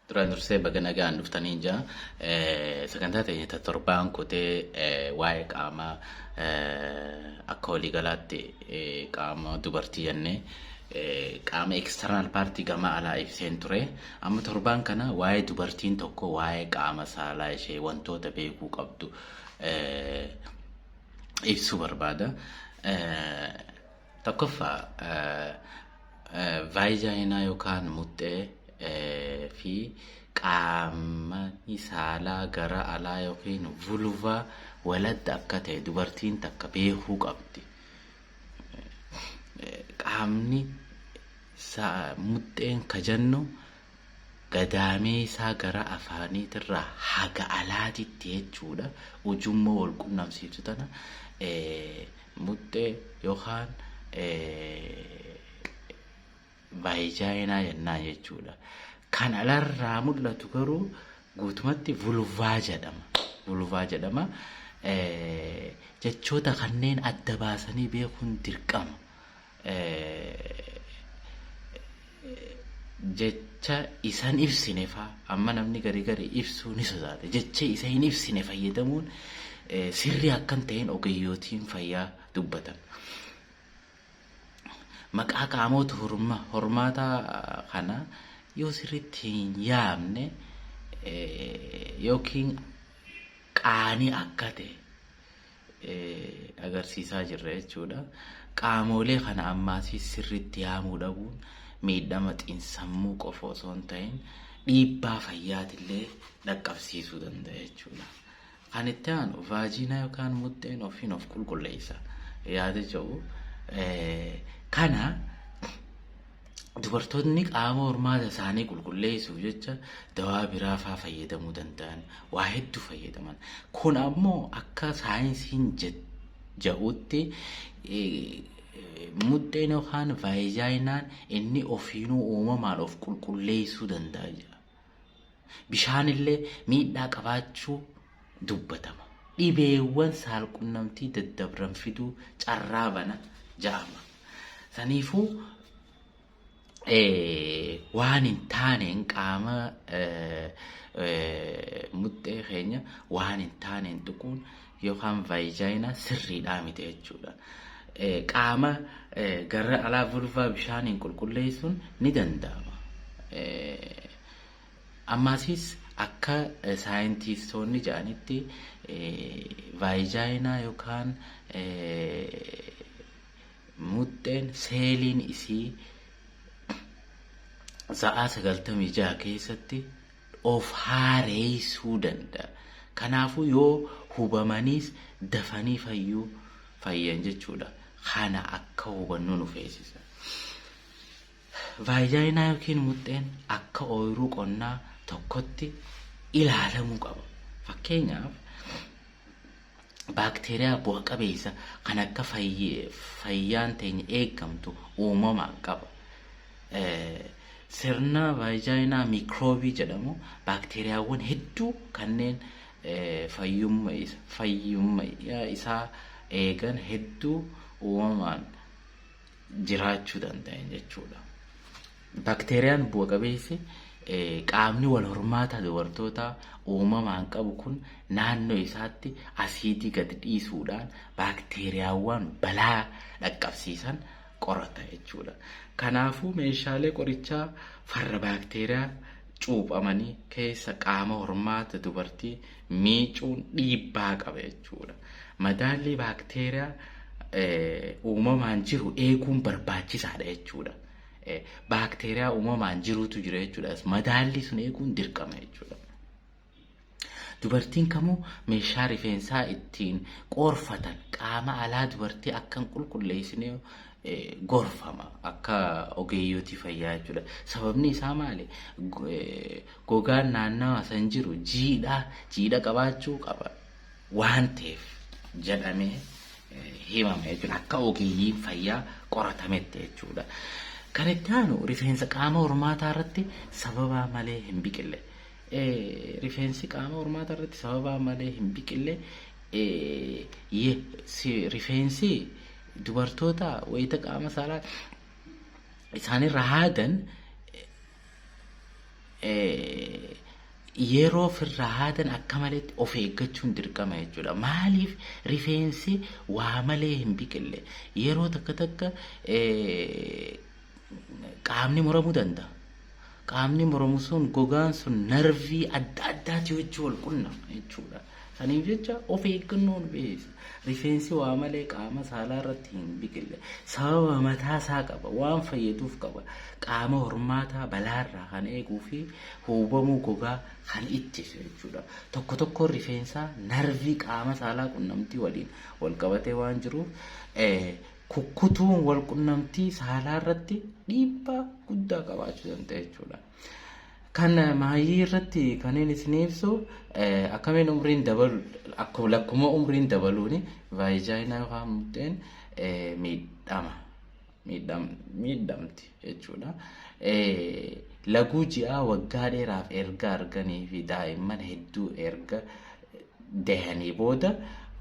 duraan dursee baga nagaan dhuftanii jaa sagantaa ta'e ta torbaan kutee waa'ee qaama akka waliigalaatti qaama dubartii jennee qaama eksternal paartii gama alaa ibseen ture Amma torbaan kana waa'ee dubartiin tokko waa'ee qaama saalaa ishee wantoota beekuu qabdu ibsuu barbaada. Tokkoffaa vaayijaayinaa yookaan muxxee fi qaama saalaa gara alaa yookiin vulvaa walatti akka ta'e dubartiin takka beekuu qabdi. qaamni muxxeen ka jennu gadaamee isaa gara afaaniitirraa haga alaatitti jechuudha. Ujummoo wal qunnamsiiftu tana muxxee yookaan Vaayijaayinaa jennaan jechuudha. Kan alarraa mul'atu garuu guutumatti vulvaa jedhama. Vulvaa jedhama. Jechoota kanneen adda baasanii beekuun dirqama. Jecha isan ibsine faa amma namni garii garii ibsuu ni sodaata. Jecha isa hin ibsine fayyadamuun sirrii akkan ta'een ogeeyyootiin fayyaa dubbatan. maqaa qaamoota hormaataa kana yoo sirriitti hin yaamne yookiin qaanii akka ta'e agarsiisaa jirra jechuudha. Qaamoolee kana ammaasii sirriitti yaamuu dhabuun miidhama xiinsammuu qofa osoo hin ta'in dhiibbaa fayyaatillee dhaqqabsiisuu danda'a jechuudha. Kan itti aanu vaajiinaa yookaan muxxeen ofiin of qulqulleessa yaada jedhu kana dubartoonni qaama hormaata isaanii qulqulleessuuf jecha dawaa biraa faa fayyadamuu danda'an waa hedduu fayyadaman kun ammoo akka saayinsiin jedhutti muxxeen yookaan vaayijaayinaan inni ofiinuu uumamaan of qulqulleessuu danda'a jedha. Bishaanillee miidhaa qabaachuu dubbatama. Dhibeewwan saalqunnamtii daddabran fiduu carraa bana ja'ama. Saniifuu waan hin taaneen qaama muxxee keenya waan hin taaneen tuquun yookaan vaayijayina sirriidhaa miti jechuudha. Qaama gara alaa vulvaa bishaaniin qulqulleessuun ni danda'ama. Ammaasis akka saayintiistoonni jedhanitti vaayijayinaa yookaan muxxeen seeliin isii sa'aa 96 keessatti of haareessuu danda'a. Kanaafuu yoo hubamaniis dafanii fayyuu fayyan jechuudha. Kana akka hubannu nu feesisa. Vaajaayinaa yookiin muxxeen akka ooyiruu qonnaa tokkotti ilaalamuu qaba. Fakkeenyaaf baakteeriyaa bu'a qabeessa kan akka fayyaan teenya eegamtu uumamaan qaba. Sirna vaajaayinaa miikroobii jedhamu baakteeriyaawwan hedduu kanneen fayyummaa isaa eegan hedduu uumamaan jiraachuu danda'an jechuudha. Bakteeriyaan bu'a qabeessi qaamni wal hormaataa dubartootaa uumamaan qabu kun naannoo isaatti asiidii gad dhiisuudhaan baakteeriyaawwan balaa dhaqqabsiisan qorata jechuudha. Kanaafuu meeshaalee qorichaa farra baakteeriyaa cuuphamanii keessa qaama hormaata dubartii miicuun dhiibbaa qaba jechuudha. Madaallii baakteeriyaa uumamaan jiru eeguun barbaachisaadha jechuudha. Baakteeriyaa uumamaan jirutu jira jechuudha. Madaallii sun eeguun dirqama jechuudha. Dubartiin kamuu meeshaa rifeensaa ittiin qoorfatan qaama alaa dubartii akka hin qulqulleessine gorfama akka ogeeyyotii fayyaa jechuudha. Sababni isaa maali? Gogaan naannawa san jiru jiidhaa jiidha qabaachuu qaba waan ta'eef jedhamee himama jechuudha. Akka ogeeyyiin fayyaa qoratametti jechuudha. Kan itti aanu rifeensa qaama hormaataa irratti sababaa malee hin biqille. Rifeensi qaama hormaataa irratti sababaa malee hin biqille rifeensi Dubartoota wayita qaama saalaa isaanirra haadan yeroo firra haadan akka maleetti of eeggachuun dirqama jechuudha. Maaliif rifeensi waa malee hin biqille yeroo takka takka qaamni muramuu danda'a. Qaamni muramu sun gogaan sun narvii adda addaati wajjin wal qunna jechuudha. Saniif jecha of eeggannoon beessa. Rifeensi waa malee qaama saalaa irratti hin biqille. Sababa mataa isaa qaba. Waan fayyaduuf qaba. Qaama hormaataa balaarraa kan eeguu fi huubamuu gogaa kan ittisu jechuudha. Tokko tokkoon rifeensaa narvii qaama saalaa qunnamtii waliin wal qabatee waan jiruuf kukkutuun walqunnamtii saalaa irratti dhiibbaa guddaa qabaachuu danda'a jechuudha. Kan maayii irratti kanneen isin ibsu akkamiin umriin dabalu akkuma lakkuma umriin dabaluun vaayijaayinaa yookaan muddeen miidhama miidhamti jechuudha. Laguu ji'aa waggaa dheeraaf erga arganii fi daa'imman hedduu erga dahanii booda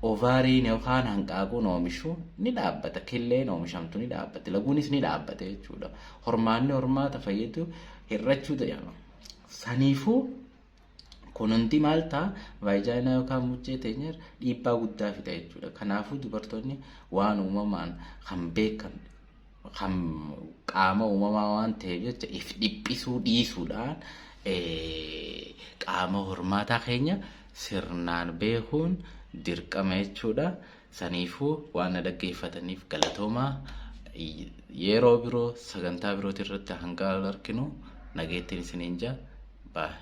ovaariin yookaan hanqaaquun oomishuu ni dhaabbata. Killeen oomishamtu ni dhaabbatti. Laguunis ni dhaabbata jechuudha. Hormaanni hormaata fayyadu hir'achuu jedhama. Saniifuu kun hundi maal ta'a? Vaayijaayinaa yookaan muchee teenyar dhiibbaa guddaa fida jechuudha. Kanaafuu dubartoonni waan uumamaan kan beekan kan qaama uumamaa waan ta'eef jecha if dhiphisuu dhiisuudhaan qaama hormaataa keenya sirnaan beekuun dirqama jechuudha. Saniifuu waan na dhaggeeffataniif galatoomaa yeroo biroo sagantaa birootii irratti hanga wal arginu nageettiin isiniin jaa baay'ee.